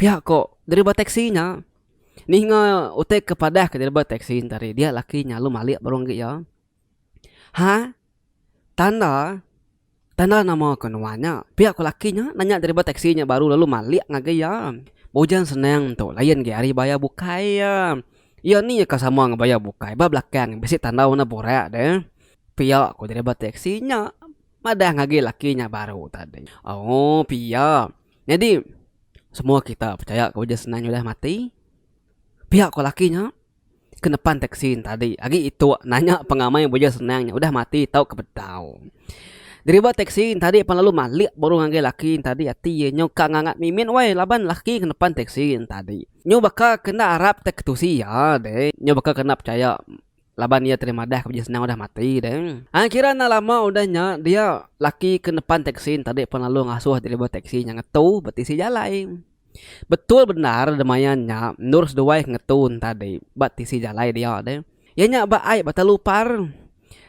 Pia ko driver taxi nya ninga utai ke padah ke driver taxi nya tadi dia laki nya lalu malik baru negi iya ha tanda tanda nama ko nuan nya pia ko laki nya nanya driver taxi nya baru lalu malik ngagi iya ujan senang tu layan agi hari bayar bukai iya iya ni ka sama ngan bayar bukai ba belakang bisi tanda warna burak de pia ko driver taxi nya madah ngagi laki nya baru tadi ooh pia. Nyadi, semua kita pechaya ke Uji Senang udah mati. Pia ku laki nya ke nepan teksi ne tadi agi itu nanya pengamai Uji Senang nya udah mati tau ke bedau. Driver teksi ne tadi pan lalu malik baru ngagai laki ne tadi ati ye nyau ka ngangat mimit weh laban laki ke nepan teksi ne tadi nyau baka ke enda arap te ketusi iya deh nyau baka ke enda pechaya. Laban iya tadi madah ke bejin senang udah mati deh. Ai kira enda lama udah nya dia laki ke nepan teksi nya tadi pan lalu ngasuh driver teksi nya ngetu betisi jalai. Betul bendar demayan nya endur seduai ke ngetu ne tadi ba tisi jalai dia deh. Iya nya ba ai ba telu par.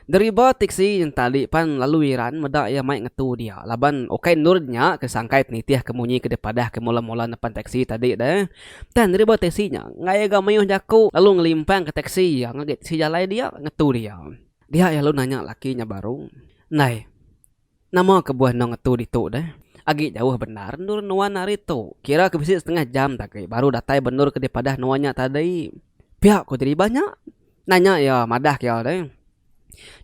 Driver teksi nya tadi pan lalu iran meda iya mai ngetu dia laban ukai endur nya ke sangkai nitih ke munyi ke dipadah ke mula-mula nepan teksi tadi deh. Tang driver teksi nya ngagai ga mayuh jaku lalu ngelimpang ka teksi iya ngagai teksi jalai dia ngetu dia. Dia iya lalu nanya laki nya baru, Ndai, nama kebuah enda ngetu ditu deh? Agi jauh bendar endur nuan ari tu. Kira ke bisi setengah jam te agi baru datai ba endur ke dipadah nuan nya tadi. Pia ku driver nya. Nanya iya madah ke iya deh.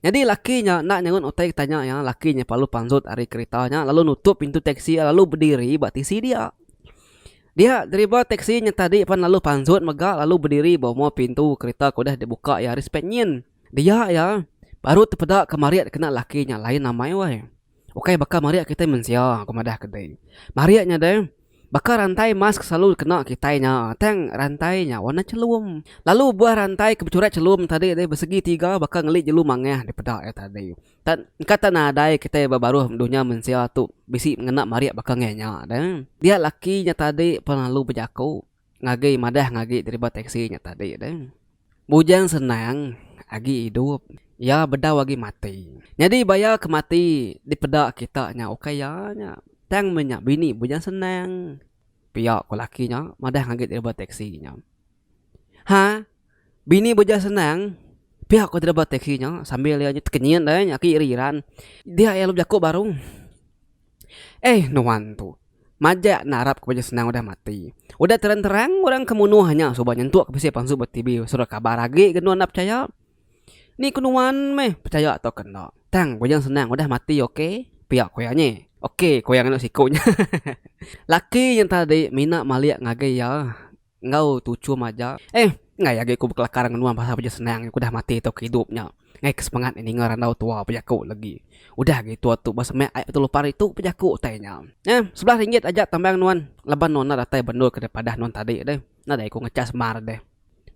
Nyadi laki nya enda nyerut utai ke tanya iya, laki nya pelalu panjut ari kerita nya lalu nutup pintu teksi iya lalu bediri ba tisi dia. Dia driver teksi nya tadi pan lalu panjut mega lalu bediri ba uma pintu kerita ke udah dibuka iya ari sepet nyin. Dia iya baru tepeda ke marit kena laki nya lain amai weh. Ukai baka marik kitai mensia, ku madah ke dei. Marik nya deh, baka rantai mask selalu dikena kitai nya, tang rantai nya warna chelum. Lalu buah rantai ke bechurat chelum tadi deh besegi tiga baka ngeli jelu mangah dipeda iya tadi. Tan engka tan nadai kitai ba baruh dunya mensia tu bisi ngena marik baka ngenyah deh. Dia laki nya tadi pelalu bejaku. Ngagai madah ngagi driba teksi nya tadi deh. Bujang senang agi idup, iya bedau agi mati. Nyadi baya ke mati dipeda kita nya ukai iya nya. Tang menya bini bujang senang, pia ku laki nya madah ngagi driba teksi nya. Ha. Bini beja senang pia ko driver taxi nya sambil iya nya tekenyit ai aki ira iran. Dia iya lalu bejaku baru. Eih nuan tu majak narap ko beja senang udah mati. Udah terang terang orang ke munuh nya suba nyentuk bisi pansu ba tv surat kabar agi ke nuan enda pechaya. Ni ko nuan meh pechaya tau ke enda. Tang beja senang udah mati ok pia ko iya nye. Ok ko iya nganak siku nya. Laki nya tadi mina malik ngagai iya. Enggau tuchum aja. Eh, enggai agi ku bekelakar ngenua pasal beja senang nya ku udah mati tauka idup nya. Enggai ke semangat nya ninga randau tua bejaku legi. Udah agi tua tu ba semak ai betul upa ritu ku bejaku utai nya. Eh, sebelah ringgit aja tambang nuan laban nuan enda datai bendur ke daripadah nuan tadi deh. Nadai ku ngechas mar deh.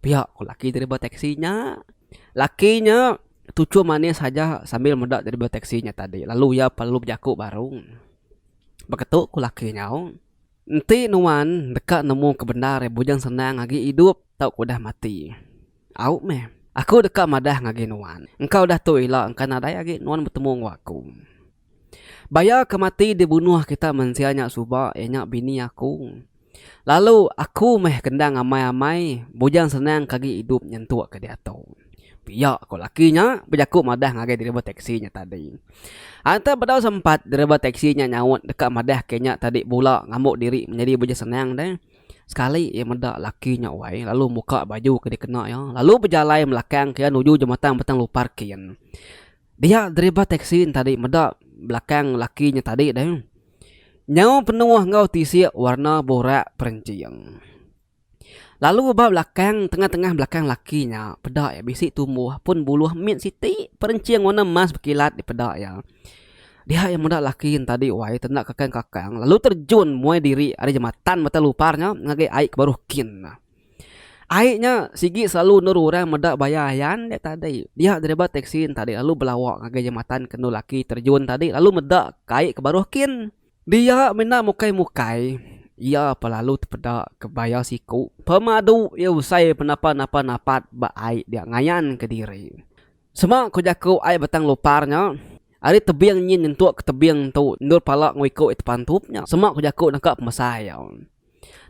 Pia ku laki driver teksi nya. Laki nya tuchum manis aja sambil meda driver teksi nya tadi lalu iya perlu bejaku baru. Beketu ku laki nyau. Enti nuan deka nemu ke bendar iya bujang senang agi idup tauka udah mati. Au meh. Aku deka madah ngagai nuan, engka udah tu ila engka nadai agi nuan betemu enggau aku. Baya ke mati dibunuh kita mensia nya suba iya nya bini aku. Lalu aku meh kendang amai-amai bujang senang ke agi idup nyentuk ke diatu. Pia ko laki nya bejaku madah ngagai driver teksi nya tadi. Anta bedau sempat driver teksi nya nyaut deka madah ke nya tadi bula ngambo diri menyadi beja senang deh. Sekali iya meda laki nya wai lalu muka baju ke dikena iya lalu bejalai melakang ke iya nuju jematang Batang Lupar kin. Dia driver teksi nya tadi meda belakang laki nya tadi deh. Nyau penuh enggau tisik warna burak perenjing. Lalu ba belakang tengah-tengah belakang laki nya peda iya bisi tumbuh pun buluh mit siti perenching warna emas bekilat di peda iya. Dia iya meda laki nya tadi wai tenda kakang-kakang lalu terjun muai diri ari jematan mata lupar nya ngagai ai ke baruh kin nya. Ai nya sigi selalu endur orang meda bayar ayan dia tadi. Dia driver teksi nya tadi lalu belawa ngagai jematan ke endur laki terjun tadi lalu meda ke ai ke baruh kin. Dia menda mukai-mukai, iya pa lalu tepeda ke baya siku pemadu iya usai penapa-napa napat ba ai dia ngayan ke diri. Sema ku jaku ai Batang Lupar nya, ari tebing nyin nyentuk ke tebing tu endur pala enggau iku iya tepantup nya sema ku jaku naka pemesai iya.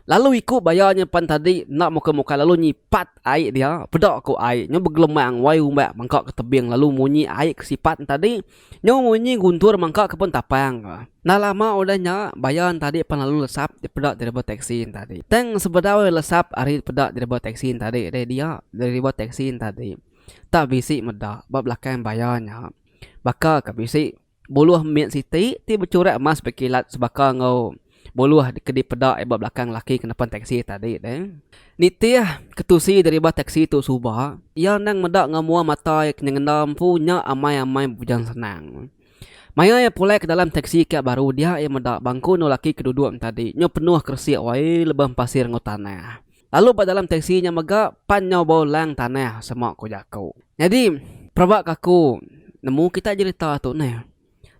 Lalu iku baya nya pan tadi enda muka-muka lalu nyipat ai dia peda ku ai nyu begelemang wai umbak mangka ke tebing lalu munyi ai ke sipat nya tadi nyu munyi guntur mangka ke pun tapang ka. Enda lama udah nya baya nya tadi pan lalu lesap peda driver teksi nya tadi. Tang sebedau iya lesap ari peda driver teksi nya tadi deh dia driver teksi nya tadi tak bisi meda ba belakang baya nya baka ke bisi. Buluh mit siti ti bechurak emas bekilat sebaka enggau buluh ke dipeda iya ba belakang lelaki ke nepan teksi tadi tu. Nitih ketusi deriba teksi tu suba, iya endang meda enggau mua mata iya ke nyengendar empu nya amai-amai bebujang senang. Maya iya pulai ke dalam teksi kiak baru dia iya meda bangku endur lelaki ke duduk nya tadi nya penuh keresik wai lebuh empasir enggau tanah. Lalu ba dalam teksi nya mega pan nyau bau lang tanah sema ku jaku. Nyadi peraba ka aku nemu kitai jerita tu neh.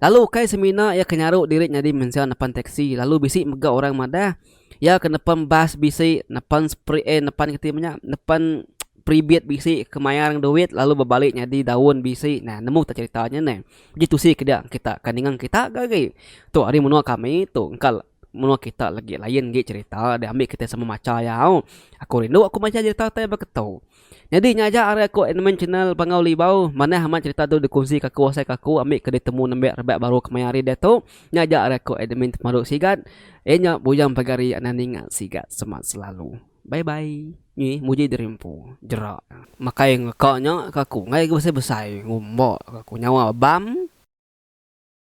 Lalu ukai semina iya ke nyaru diri nyadi mensia nepan teksi lalu bisi mega orang madah iya ke nepan bas bisi nepan spri eh nepan kati menya nepan pribit bisi ke mayar ngan duit lalu bebali nyadi daun bisi nah nemu kita jerita nya neh. Ji tusi ke dia kita ka ninga kita ga agi tu ari menua kami tu engka. Menua kita lagi lain agi cerita deh ambi kita sama macha iya au. Aku rindu aku macha cerita utai ba keto. Nyadi nya aja ari aku Admin Channel Bangau Libau. Manah amat cerita tu dikunsi ka aku asai ka aku ambi ke ditemu nembiak rebak baru kemaya hari diatu. Nya aja ari aku Admin Temadu Sigat. Iya nya bujang pagari anang ninga sigat semat selalu. Bye bye. Nyi muji diri empu. Jerak. Makai ngeka nya ka aku. Enggai ga besai-besai. Ngumba ka aku. Nyawa bam.